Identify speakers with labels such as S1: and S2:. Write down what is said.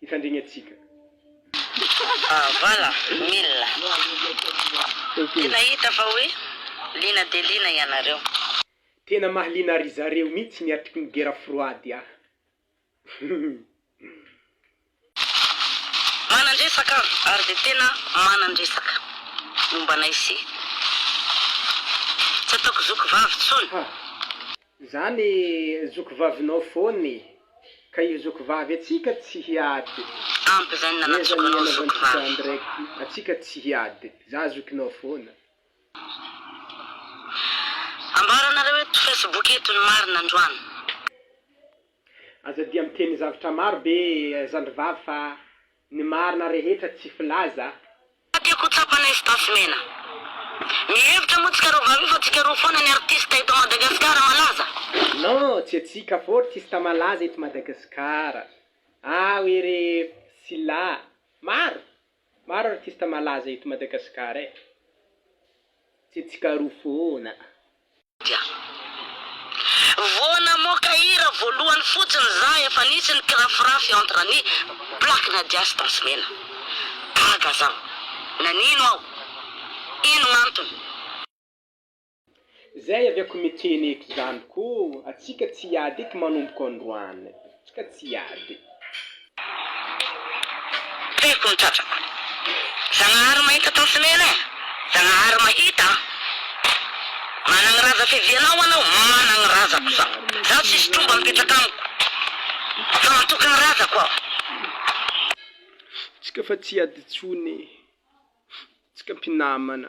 S1: hifandrigny atsika. Ah voilà
S2: mille. Tena hita fa hoe liana dia liana ianareo. Tena
S1: mahaliana ry zareo mitsy ny artiky ny guerre froide ah.
S2: Manandresaka ary dia tena manandresaka momba anay sy tsy ataoko zoky vavy tsony.
S1: Zany zoky vavinao foana e. Ka io zoky vavy atsika tsy hiady. Ampy zay ny
S2: nanatsokanao zoky vavy. Atsika
S1: tsy hiady. Za zokinao foana.
S2: Ambaranareo eto facebook eto ny marina androany. Aza
S1: dia miteny zavtra maro be zandrivavy fa Ny marina rehetra tsy filaza. Fa tiako ho
S2: tsapanay sy tasy mena. Mihevitra moa tsika roa vavy io fa tsika roa foana ny artiste eto Madagascar malaza. Non tsy
S1: atsika fô artiste malaza eto Madagascar aho ery Sylla maro maro artiste malaza eto Madagascar e tsy atsika roa foana. dia
S2: vo namoaka hira voalohany fotsiny za efa nisy ny kirafirafy entre ny black nadia sy tasimena gaga zaho nanino aho ino gnantony.
S1: Zay avy ako miteny eto zany ko atsika tsy hiady eky manomboka androany. Ka tsy hiady.
S2: Tiako ny tratrako. Zagnahary mahita tansy mena eh. Zagnahary mahita an. Managny raza fivianao anao managny razako zaho. Zaho tsisy tromba mipetraka amiko fa matoky ny razako aho.
S1: Tsika fa tsy hiady tsony eh. Tsika mpinamana.